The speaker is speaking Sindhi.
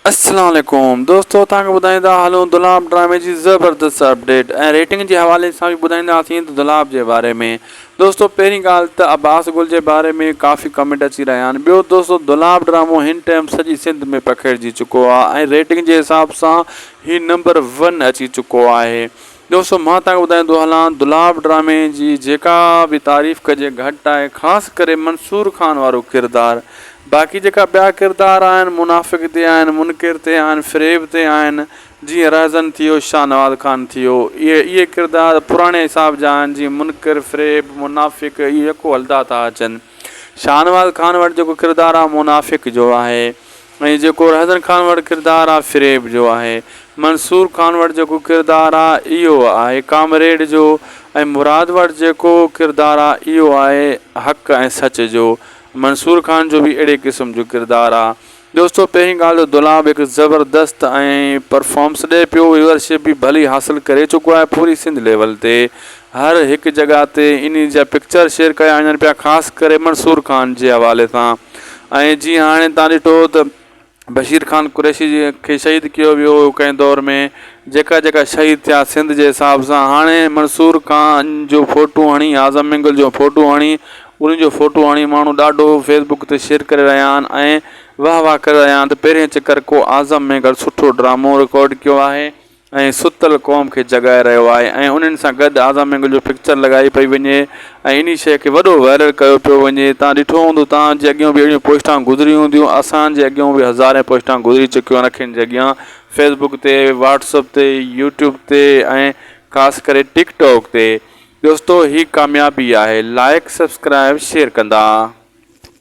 السلام عليڪم دوستو توهان کي ٻڌائيندا هلون دولاب ڊرامي جي زبردست اپڊيٽ ۽ ريٽنگ جي حوالي سان به ٻڌائينداسين ته دولاب جي باري ۾ دوستو پهرين ڳالهه ته عباس گل جي باري ۾ ڪافي ڪمينٽ اچي رهيا آهن ٻيو دوستو دولاب ڊرامو هن ٽيم سڄي سنڌ ۾ پکيڙجي چڪو آهي ۽ ريٽنگ جي حساب سان هي نمبر ون اچي چڪو آهي ٻيو سو مان توهان کي ٻڌائيندو هلان دولاب ڊرامي جي جيڪا به تعريف ڪجي گهٽ آهي خاص ڪري منصور خان وارو ڪردار باقي جيڪا ٻيا ڪردار آهن منافق تي آهن منڪر تي آهن فريب تي آهن جيئن رهزن ٿيو شاهنواز خان ٿيو اهي اهي ڪردار پراڻي حساب جا آهن جيئن منڪر فريب منافق اهي يڪو هلدا ٿا اچن شاهنواز خان وٽ جيڪو ڪردار آهي منافق جو آهي ۽ جيڪو رهزن خان وٽ ڪردار آ فريب جو آهي. منصور خان وٽ جيڪو ڪردار آ اهو آهي ڪامريڊ جو ۽ مراد وٽ جيڪو ڪردار آ اهو آهي حق ۽ سچ جو. منصور خان جو به اهڙي قسم جو ڪردار آ. دوستو پهرين ڳالهه ته دولاب هڪ زبردست ۽ پرفامس ڏئي پيو ويورشپ به ڀلي حاصل ڪري چڪو آهي پوري سنڌ ليول تي. هر هڪ جڳهه تي انهي جا پڪچر شيئر ڪيا وڃن پيا خاص ڪري منصور خان جي حوالي سان ۽ جيئن هاڻي تان ڏٺو ته بشير خان قريشي جي کي شهيد ڪيو ويو هو ڪنهن دور ۾ جيڪا جيڪا شهيد ٿيا سنڌ جي حساب سان هاڻي منصور خان جو فوٽو هڻي اعظم مينگل جو فوٽو هڻي انهن جو فوٽو هڻي ماڻهو ڏاڍو فيس بڪ تي شيئر ڪري رهيا آهن ۽ واهه واهه ڪري رهيا آهن ته پهرين چڪر ڪو اعظم مينگل سٺو ڊرامو رڪارڊ ڪيو آهي ۽ ستل قوم کي جڳائي رهيو آهي ۽ انهن سان گڏ آزا مينگل جو پڪچر لڳائي پئي وڃي ۽ انهي شيء کي وڏو وائرل ڪيو پيو وڃي تان ڏٺو هوندو تان جي اڳيون به اهڙيون پوسٽان گذريون هونديون اسان جي اڳيون به هزارين پوسٽان گذري چڪيون آهن اکين جي اڳيان فيس بڪ تي واٽس اپ تي يوٽيوب تي ۽ خاص ڪري ٽڪ ٽاڪ تي دوستو هي ڪاميابي آهي لائڪ سبسڪرائب شيئر ڪندا.